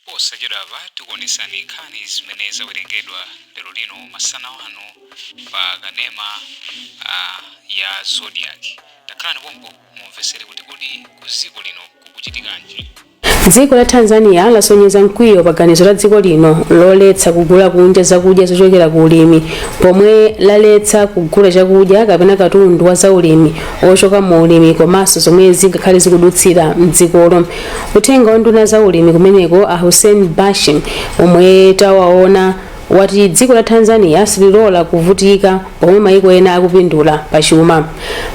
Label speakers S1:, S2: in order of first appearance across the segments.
S1: Posachedwapa tikuonetsani nkhani zimene zawerengedwa lero lino masana ano pa kanema a ya Zodiak. Takhalani pompo mumvetsere kuti kodi mdziko lino kukuchitikanji. Dziko
S2: la Tanzania lasonyeza mkwiyo pa ganizo la dziko lino loletsa kugula kunja zakudya zochokera ku ulimi pomwe laletsa kugula chakudya kapena katundu wa zaulimi ochoka mu ulimi komanso zomwe zingakhale zikudutsira mdzikolo. Uthenga wa nduna za ulimi kumeneko a Hussein Bashe omwe tawaona wati dziko la Tanzania sililola kuvutika pomwe maiko ena akupindula pa chuma.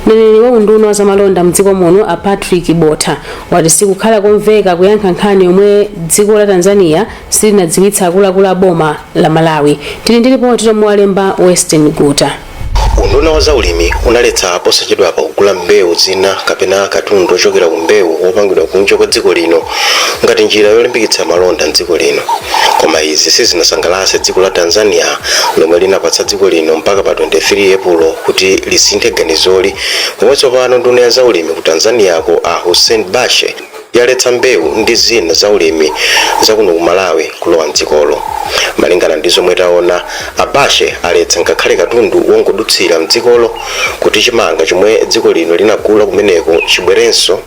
S2: Mneneri wa unduna wa zamalonda mdziko muno a Patrick Botha wati sikukhala komveka kuyankha nkhani yomwe dziko la Tanzania silinadziwitse akuluakulu a boma la Malawi. Tili ndi lipoti lomwe walemba Western Guta. Unduna wa
S3: zaulimi unaletsa posachedwapa kugula mbewu zina kapena katundu ochokera ku mbewu wopangidwa kunja kwa dziko lino ngati njira yolimbikitsa malonda m'dziko lino. Koma izi sizinasangalatse dziko la Tanzania lomwe linapatsa dziko lino mpaka pa 23 Epulo kuti lisinthe ganizoli pomwe tsopano nduna ya zaulimi ku Tanzania-ko a Hussein Bashe yaletsa mbewu ndi zina za ulimi za kuno ku Malawi kulowa m'dzikolo. Malingana ndi zomwe taona, a Bashe aletsa ngakhale katundu wongodutsira m'dzikolo kuti chimanga chomwe dziko lino linagula kumeneko chibwerenso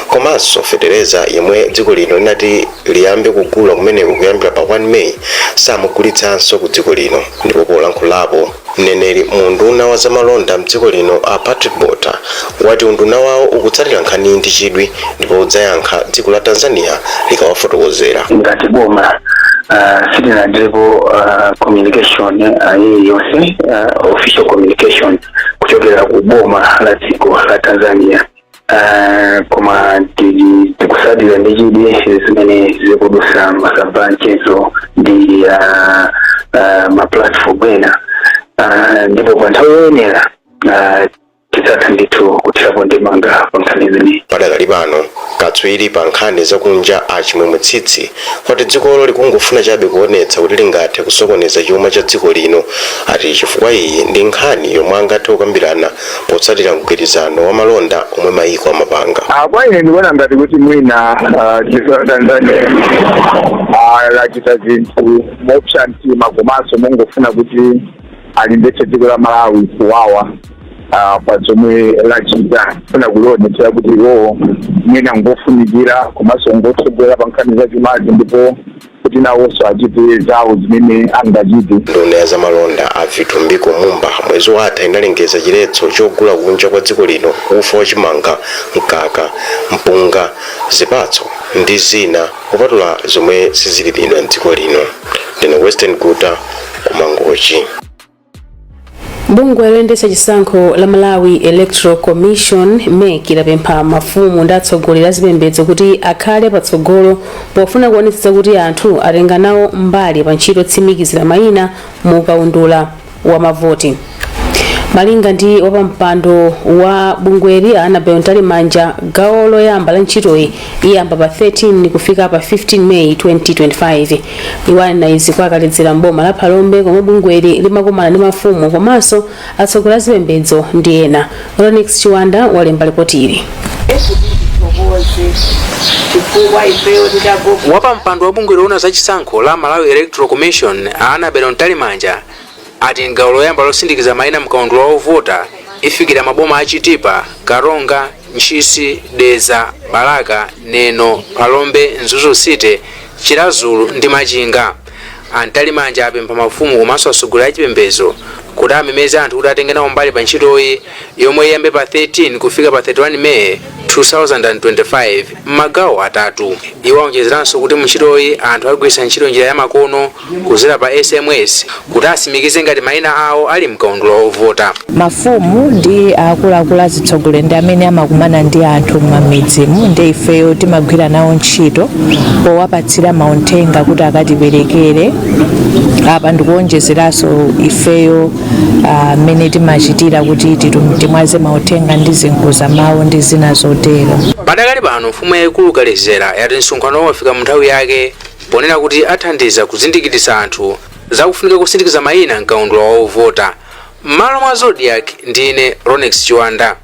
S3: komanso fetereza yemwe dziko lino linati liyambe kugula kumeneko kuyambira pa 1 May samugulitsanso ku dziko lino. Ndipo polankhulapo, Mneneri mu unduna wa zamalonda mdziko lino a Patrick Botha wati unduna wawo ukutsatira nkhaniyi ndi chidwi ndipo udzayankha dziko la Tanzania likawafotokozera. Ngati
S4: boma sitinalandirepo communication iliyonse, official communication kuchokera ku boma la dziko la Tanzania. Ah, koma tili tikutsatira ndi chidwi zimene zikudutsa m'masamba anchezo ndi ah, ah, maplatform ena Ah, ndipo pa nthawi yoyenera ah, tidzatha ndithu kuthirapo ndemanga pa nkhani imeneyi padakali
S3: pano katswiri pa nkhani zakunja a Chimwemwe Tsitsi wati dzikolo likungofuna chabe kuonetsa kuti lingathe kusokoneza chuma cha dziko lino ati chifukwa iyi ndi nkhani yomwe angathe kukambirana potsatira mgwirizano wa malonda omwe mayiko amapanga. Ah, kwa ine ndikuona
S5: ngati kuti mwina ah, dziko la Tanzania ah, lachita zinthu mopsa mtima komanso mongofuna kuti alimvetse dziko la Malawi kuwawa ah, pa zomwe lachita kufuna kulionetsera kuti iwowo mwina ngofunikira komanso ngotsogola pa nkhani za chumazi ndipo kuti nawonso achite zawo zimene angachite. Nduna ya
S3: zamalonda a Vitumbiko Mumba mwezi watha inalengeza chiletso chogula kunja kwa dziko lino ufa wa chimanga, mkaka, mpunga, zipatso ndi zina kupatula zomwe sizilimidwa m'dziko lino. Ndine Western Guta ku Mangochi.
S2: bungwe loyendetsa chisankho la malawi electoral commission mec lapempha mafumu ndi atsogoleri azipembedzo kuti akhale patsogolo pofuna kuonetsetsa kuti anthu atenga nawo mbali pa ntchito yotsimikizira mayina mu kaundula wa mavoti malinga ndi wapampando wa bungweli Annabel mtalimanja gawo loyamba la ntchitoyi iyamba pa 13 kufika pa 15 meyi 2025 iwo anena izi kwa kaledzera m'boma la phalombe komwe bungweli limakumana ndi mafumu komanso atsogoleri a zipembedzo ndi ena ronex chiwanda walemba lipoti ili
S6: wapampando wa bungwe loona za chisankho la malawi electoral commission a annabel mtalimanja ati m'gawo loyamba lotsimikiza maina mkaundula wa ovota ifikira maboma a Chitipa, Karonga, Ntchisi, Dedza, Balaka, Neno, Phalombe, Mzuzu City, Chiradzulu ndi Machinga. A Mtalimanja apempha mafumu komanso atsogoleri a chipembedzo kuti amemeze anthu kuti atenge nawo mbali pa ntchitoyi yomwe iyambe pa 13 kufika pa 31 Meyi 2025 m'magawo atatu. Iwo aonjezeranso kuti mu ntchitoyi anthu agwiritsa ntchito njira ya makono kudzera pa sms kuti atsimikize ngati maina awo ali mkaundula wa ovota. mafumu
S7: ndi akuluakulu azitsogoleri ndi amene amakumana ndi anthu m'mamidzimu ndi ifeyo timagwira nawo ntchito powapatsira mauthenga kuti akatiperekere apa ndikuonjezeranso ifeyo ah, mmene timachitira kuti titum- timwaze mauthenga ndi zinkuza mawu ndi zina zotero padakali pano
S6: mfumu yayikulu kaledzera yati msonkhano wafika mu nthawi yake ponena kuti athandiza kuzindikiritsa anthu za kufunika kotsimikiza mayina m'kaundula wa ovota. M'malo mwa Zodiak, ndine Ronex Chiwanda.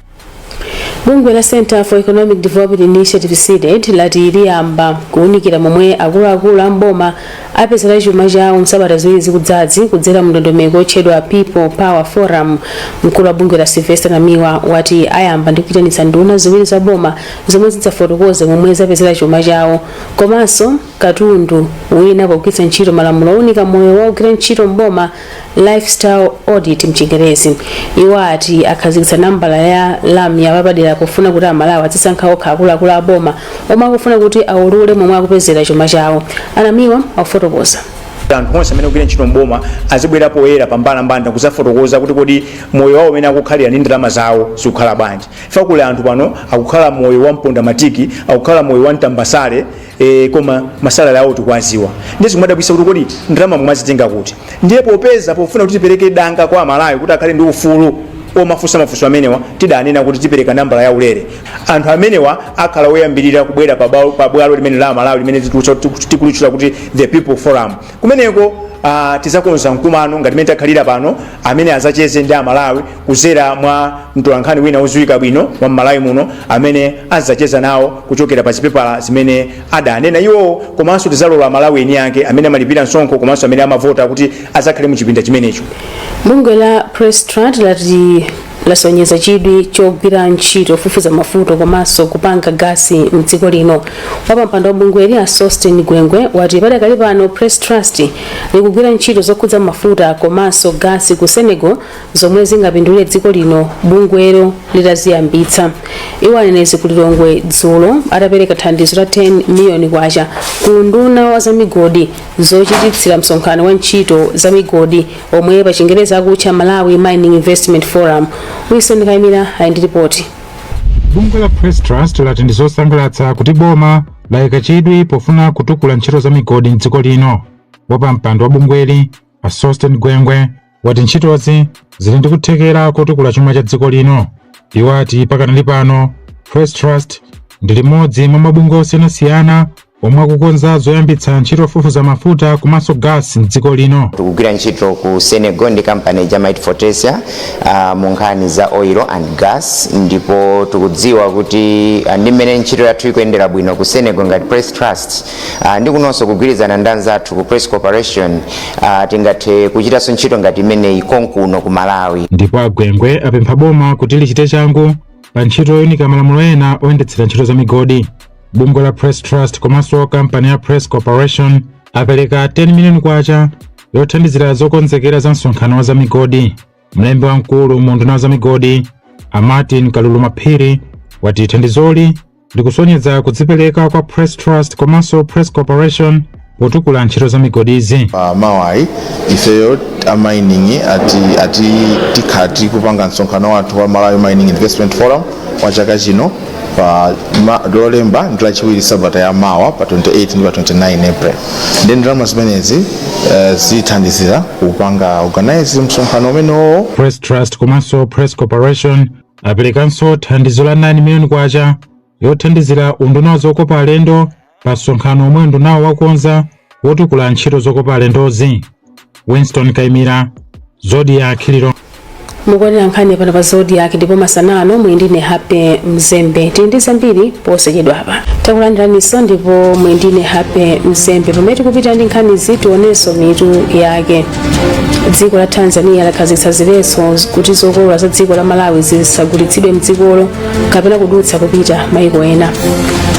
S6: bungwe
S2: la centre for economic development initiative cdedi lati liyamba kuwunikira momwe akuluakulu a mboma apezera chuma chawo msabata ziwiri zikudzazi kudzera mu ndondomeko yotchedwa people power forum mkulu wa bungweli a sylvester namiwa wati ayamba ndi kuyitanitsa nduna ziwiri za boma zomwe zidzafotokoze momwe zapezera chuma chawo komanso katundu wina pogwiritsa ntchito malamulo owunika moyo wa ogwira ntchito m'boma lifestyle audit mchingerezi iwo ati akhazikitsa nambala ya lamya yapadera pofuna kuti amalawi azisankha okha akuluakulu a boma omwe akufuna kuti aulule momwe akupezera chuma chawo a namiwa akufotokoza anthu onse
S8: amene akugwira ntchito m'boma azibwera poyera pambalambanda kuzafotokoza kuti kodi moyo wawo umene akukhalira ndi ndalama zawo zikukhala bwanji ife kuli anthu pano akukhala moyo wa mponda matiki akukhala moyo wa mtambasale e, koma masalary awo tikwaziwa ndiye zikumadabwisa kuti kodi ndalama mwazitenga kuti ndiye popeza pofuna kuti tipereke danga kwa amalawi kuti akhale ndi ufulu omafunsa mafunso amenewa tidanena kuti tipereka nambala ya ulere anthu amenewa akhala oyambirira kubwera pa bwalo- pa bwalo limene la amalawi limene tikulicho- tiku- tikulitchula kuti the people forum kumeneko ah, tizakonza mkumano ngati mene takhalira pano amene azacheze ndi amalawi kuzera mwa mtolankhani wina oziwika bwino wa mmalawi muno amene azacheza nawo kuchokera pa zipepala zimene adanena iwowo komanso tizalola amalawi eni ake amene amalipira msonkho komanso amene amavota kuti azakhale mu chipinda chimenecho bungwe la
S2: press trust lati lasonyeza chidwi chogwira ntchito ofufuza mafuta komanso kupanga gasi mdziko lino wapampando wa bungweli a sosten gwengwe wati padakali pano press trust likugwira ntchito zokhudza mafuta komanso gasi ku senegal zomwe zingapindulire dziko lino bungwelo litaziyambitsa. Iwo anena izi ku Lilongwe dzulo atapereka thandizo la 10 miliyoni kwacha ku unduna wa zamigodi zochititsira msonkhano wa ntchito za migodi omwe pa chingerezi akutcha Malawi Mining Investment Forum. Wilson Kaimira ali ndi ripoti. Bungwe la
S9: Press Trust lati ndi zosangalatsa kuti boma layika chidwi pofuna kutukula ntchito za migodi m'dziko lino. Wapampando wa bungweli a Sosten Gwengwe wati ntchitozi zili ndi kuthekera kotukula chuma cha dziko lino. Iwo ati pakanali pano Press Trust ndi limodzi mwa mabungwe osiyanasiyana omwe akukonza zoyambitsa ntchito yofufuza mafuta komanso gasi m'dziko lino. tikugwira ntchito
S10: ku senegal ndi kampani ya might fortesa uh, mu nkhani za oil and gas ndipo tikudziwa kuti ah, ndi mmene ntchito yathu ikuyendera bwino ku senegal ngati press trust Ah, ndi kunonso kugwirizana ndi anzathu ku press corporation ah, tingathe kuchitanso ntchito ngati imeneyi konkuno ku malawi ndipo agwengwe
S9: apempha boma kuti lichite changu pa ntchito yoyunika malamulo ena oyendetsera ntchito za migodi bungwe la press trust komanso kampani ya press corporation apereka 10 miliyoni kwacha yothandizira zokonzekera za msonkhano wa za migodi mlembi wamkulu mu unduna wa za migodi a martin kaluluma phiri wati thandizoli likusonyeza kudzipereka kwa Press Trust komanso Press Corporation potukula ntchito za migodizi. pa
S11: mawayi ifeyo a mining ati ati tikhala tikupanga msonkhano wathu wa Malawi Mining Investment Forum wa chaka chino pa ma- lolemba ndi lachiwiri sabata ya mawa pa 28 ndi pa 29 April nde ndalama zimenezi eh, zithandizira kupanga organize msonkhano umenewo Press Trust komanso
S9: Press Corporation Aperekanso thandizo la 9 miliyoni kwacha yothandizira unduna wa zokopa alendo pa msonkhano omwe undunawo wakonza wotukula ntchito zokopa alendozi. Winston Kaimira, Zodiak Lilongwe. mukuonera
S2: nkhani pano pa zodiak ndipo masana ano muli ndine happy mzembe tili ndi zambiri posachedwapa takulandiraniso ndipo muli ndine happy mzembe pamene tikupita ndi nkhanizi tionenso mitu yake dziko la tanzania lakhazikitsa ziletso kuti zokolola za dziko la malawi zisagulitsidwe mdzikolo kapena kudutsa kupita maiko ena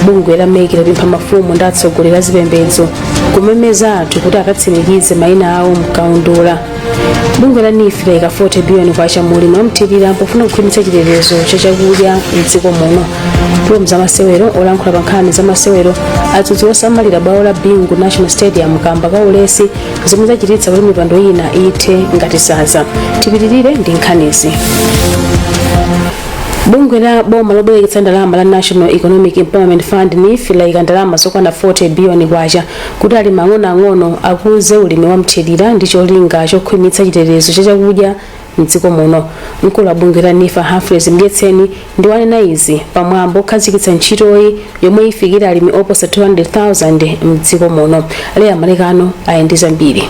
S2: bungwe la mec lapempha mafumu ndi atsogoleri a zipembedzo kumemeza anthu kuti akatsimikize maina awo mkaundula bungwe la neef laika 40 biliyoni kwacha mu ulimi wamthirira pofuna kukhwimitsa chitetezo cha chakudya mdziko muno pomwe m'zamasewero olankhula pa nkhani za masewero adzudzula osamalira bwalo la bingu national stadium kamba ka ulesi zomwe zachititsa kuti mipando ina ithe ngati sanza tipitirire ndi nkhanizi bungwe la boma lobwereketsa ndalama la national economic empowerment fund neef layika ndalama zokwana 40 biliyoni kwacha kuti alimi ang'onoang'ono akuze ulimi wa mthirira ndi cholinga chokhwimitsa chitetezo cha chakudya mdziko muno mkulu wa bungwe la neef humphrey mdyetseni ndi wanena izi pamwambo okhazikitsa ntchitoyi yomwe ifikira alimi oposa 200,000 mdziko muno leah malekano ali ndi zambiri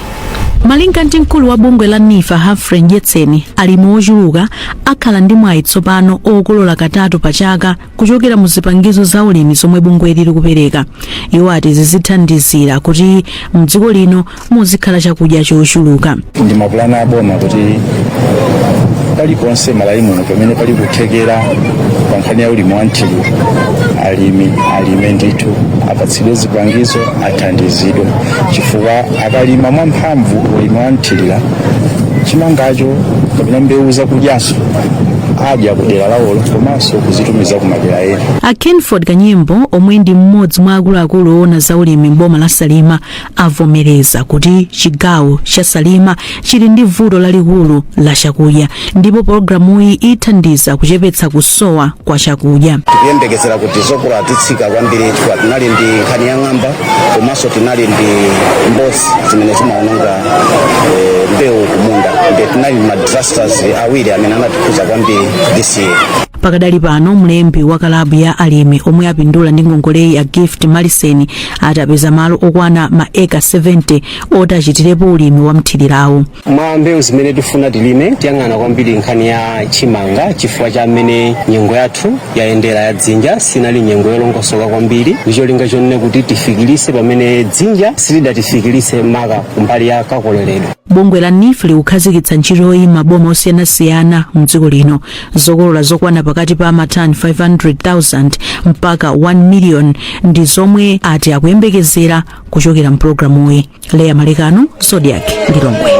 S12: malinga ndi mkulu wa bungwe la neef humphrey mdyetseni alimi ochuluka akhala ndi mwayi tsopano okolola katatu pa chaka kuchokera mu zipangizo za ulimi zomwe bungweli likupereka iwo ati izi zithandizira kuti mdziko lino muzikhala chakudya chochuluka ndi mapulani
S13: aboma kuti paliponse malawi muno pamene pali kuthekera pa nkhani ya ulimi wa mthirira alimi alime ndithu apatsidwe zipangizo athandizidwe chifukwa akalima mwamphamvu ulimi wa mthirira chimangacho kapena mbewu zakudyazo adya ku dera lawolo komanso kuzitumiza ku madera ena a kenford kanyimbo
S12: omwe ndi mmodzi mwa akuluakulu owona za ulimi m'boma la salima avomereza kuti chigawo cha salima chili ndi vuto lalikulu la chakudya ndipo pologalamuyi ithandiza kuchepetsa kusowa kwa chakudya tikuyembekezera kuti
S14: zokolola zitsika kwambiri chifukwa tinali ndi nkhani ya ng'amba komanso tinali ndi mbozi zimene zimaononga eh, mbewu kumunda nde tinali ma disasters awiri amene anatikhudza kwambiri this year pakadali pano
S12: mlembi wa kalabu ya alimi omwe apindula ndi ngongoleyi a gift maliseni ati apeza malo okwana ma eka 70 oti achitirepo ulimi wa mthirirawu mwa mbewu zimene
S15: tifuna tilime tiyang'ana kwambiri nkhani ya chimanga chifukwa cha mmene nyengo yathu yayendera ya dzinja sinali nyengo yolongosoka kwambiri ndi cholinga chonena kuti tifikilise pamene dzinja silidatifikilise maka kumbali ya kakoleredwe bungwe la neef
S12: likukhazikitsa ntchitoyi m'maboma osiyanasiyana mdziko lino zokolola zokwana pakati pa matani 500,000 mpaka 1 million ndi zomwe ati akuyembekezera kuchokera mpulogalamuyi leya malekano zodiac
S2: lilongwe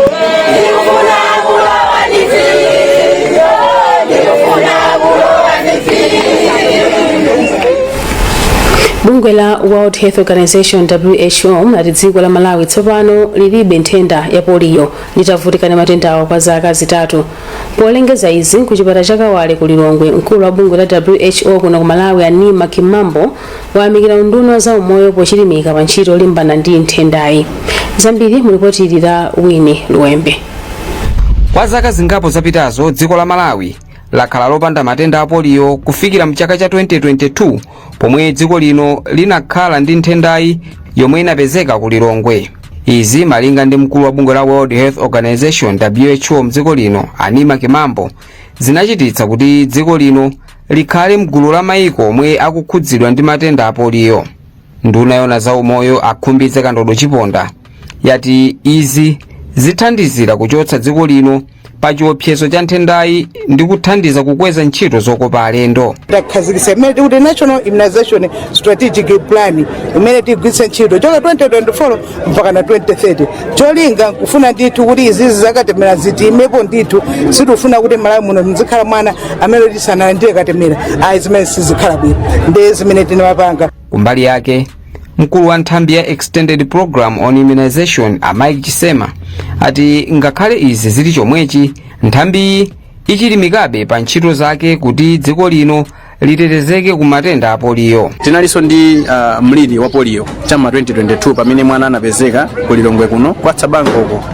S2: bungwe la world health organization who lati dziko la malawi tsopano lilibe nthenda ya poliyo litavutikana matendawa kwa zaka zitatu polengeza izi kuchipata cha kawale ku lilongwe mkulu wa bungwe la who kuno ku malawi a neema kimambo wayamikira unduna wa zaumoyo pochilimika pa ntchito yolimbana ndi nthendayi zambiri mulipotili la wini luwembe
S6: kwa zaka zingapo zapitazo dziko la malawi lakhala lopanda matenda a poliyo kufikira mchaka cha 2022 pomwe dziko lino linakhala ndi nthendayi yomwe inapezeka ku lilongwe izi malinga ndi mkulu wa bungwe la world health organization who mdziko lino a neema kimambo zinachititsa kuti dziko lino likhale mgulu la maiko omwe akukhudzidwa ndi matenda a poliyo nduna yona za umoyo a khumbize kandodo chiponda yati izi zithandizira kuchotsa dziko lino pa chiopsezo cha nthendayi ndi kuthandiza kukweza ntchito zokopa alendo takhazikitsa imene
S16: tikuti national immunization strategic plan imene tigwiritse ntchito kuchoka 2024 mpakana 2030 cholinga nkufuna ndithu kuti izizi zakatemera zitheke ndithu sitifuna kuti malawi muno muzikhala mwana amene kuti sanalandire katemera ayi zimene sizikhala bwino ndi zimene tinapanga kumbali
S6: yake mkulu wa nthambi ya extended program on immunization a mike chisema ati ngakhale izi zili chomwechi nthambiyi ichilimikabe pa ntchito zake kuti dziko lino litetezeke ku matenda a poliyo tinalinso ndi
S17: uh, mliri wa polio cha m'ma 2022 pamene mwana anapezeka ku lilongwe kuno kwa tsabangoko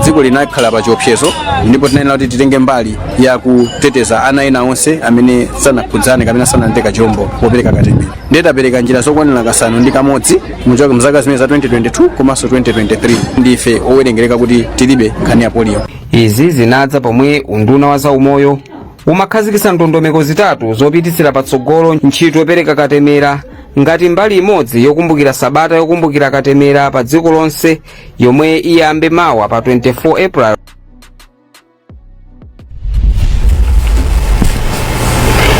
S17: dziko linakhala pa chiopsezo ndipo tinayenera kuti titenge mbali ya kuteteza ana ena onse amene sanakhudzane kapena sanatenge kachirombo popereka katemera ndiye tapereka njira zokwanira kasanu ndi kamodzi kuchoka mzaka zimene za 2022 komanso 2023 ndife owerengereka kuti tilibe nkhani ya polio izi zinadza
S6: pomwe unduna wa zaumoyo umakhazikitsa ndondomeko zitatu zopititsira patsogolo ntchito yopereka katemera ngati mbali imodzi yokumbukira sabata yokumbukira katemera pa dziko lonse yomwe iyambe mawa pa 24 april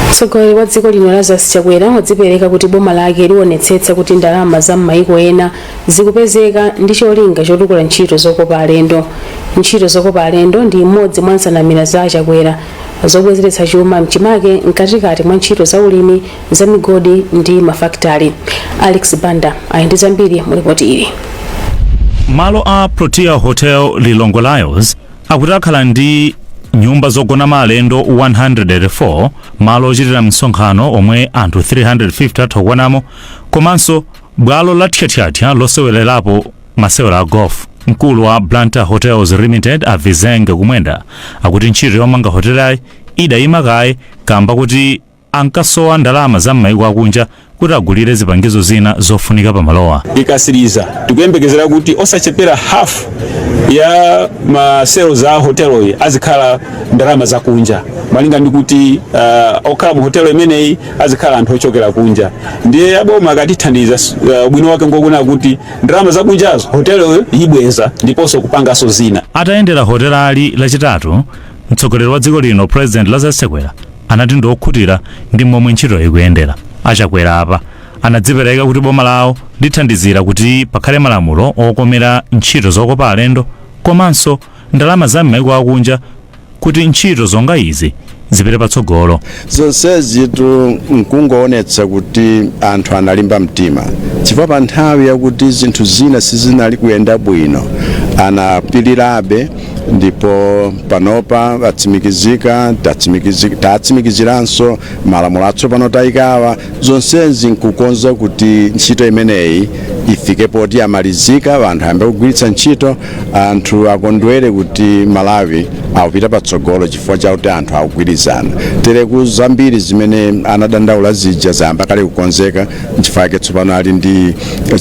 S2: mtsogoleri wa dziko lino lazarus chakwera wadzipereka kuti boma lake liwonetsetsa kuti ndalama za m'mayiko ena zikupezeka ndi cholinga chotukula ntchito zokopa alendo. Ntchito zokopa alendo ndi imodzi mwa nsanamira za a Chakwera zobwezeretsa chuma mchimake mkatikati mwa ntchito za ulimi, za migodi ndi mafakitale. Alex Banda ali ndi zambiri mu lipoti ili.
S18: malo a protea hotel lilongwe ryalls akuti akhala ndi nyumba zogona ma alendo 104 malo ochitira msonkhano omwe anthu 350 atha kukwanamo komanso Bwalo la thyathyathya losewererapo masewera a Golf. Mkulu wa Blantyre Hotels Limited a Vizenge Kumwenda akuti ntchito yomanga hotelayi idayima kaye kamba kuti ankasowa ndalama za m'mayiko akunja kuti agulire zipangizo zina zofunika pa malowa.
S19: ikatsiriza tikuyembekezera kuti osachepera half ya ma sales a hotelo iyi azikhala ndalama zakunja malinga ndi kuti uh, okhala mu hotelo imeneyi azikhala anthu ochokera kunja ndiye aboma akatithandiza s- uh, ubwino wake ngokuona kuti ndalama zakunjazo hotelo ibweza ndiponso kupanganso zina atayendera hotelali
S18: lachitatu mtsogoleri wa dziko lino president lazarus chakwera anati ndi okhutira ndi momwe ntchito ikuyendera achakwera apa anadzipereka kuti boma lawo lithandizira kuti pakhale malamulo okomera ntchito zokopa alendo komanso ndalama za m'maiko akunja kuti ntchito zonga izi zipite patsogolo. Zonsezitu
S20: n'kungoonetsa kuti anthu analimba mtima, chifukwa pa nthawi yakuti zinthu zina sizinali kuyenda bwino anapirirabe ndipo panopa atsimikizika, tatsimikiziranso malamulo atsopano taikawa. Zonsezi n'kukonza kuti ntchito imeneyi ifike poti yamalizika, anthu ayambe kugwiritsa ntchito. anthu akondwere kuti malawi akupita patsogolo chifukwa chakuti anthu akugwirizana tereku zambiri zimene anadandaula zija zayamba kale kukonzeka nchifukwa chake tsopano ali ndi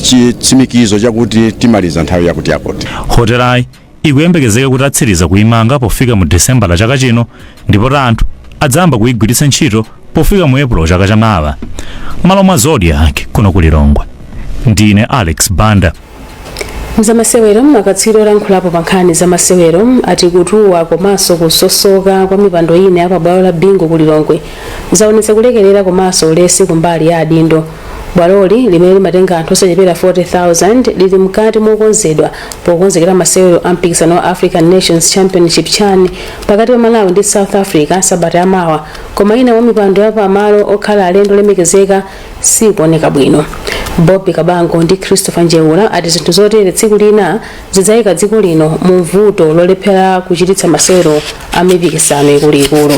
S20: chitsimikizo chakuti timaliza nthawi yakuti yakuti
S18: hotelayi ikuyembekezeka kuti atsiriza kuimanga pofika mu desemba la chaka chino ndipo ta anthu adzayamba kuigwiritsa ntchito pofika mu epulo chaka chamawa malo mwa zodiak kuno ku lilongwe ndine alex banda mzamasewero
S2: akatswiri olankhulapo pa nkhani za masewero ati kutuwa komanso kusosoka kwa mipando ina ya pabwalo la bingu ku lilongwe zaonetsa kulekerera komanso ulesi kumbali ya adindo bwaloli limene limatenga anthu osachepera 40000 lili mkati mokonzedwa pokonzekera masewero a mpikisano wa african nations championship chan pakati pa malawi ndi south africa sabata yamawa koma ina mwa mipando ya pamalo okhala alendo olemekezeka sikuoneka bwino. Bobby Kabango ndi Christopher Njeula ati zinthu zotere tsiku lina zidzaika dziko lino mu mvuto lolephera kuchititsa masewero a mipikisano ikuluikulu.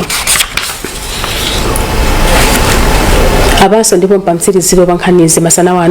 S2: Apanso ndipo mpamtsiriziro pa nkhanizi masana wano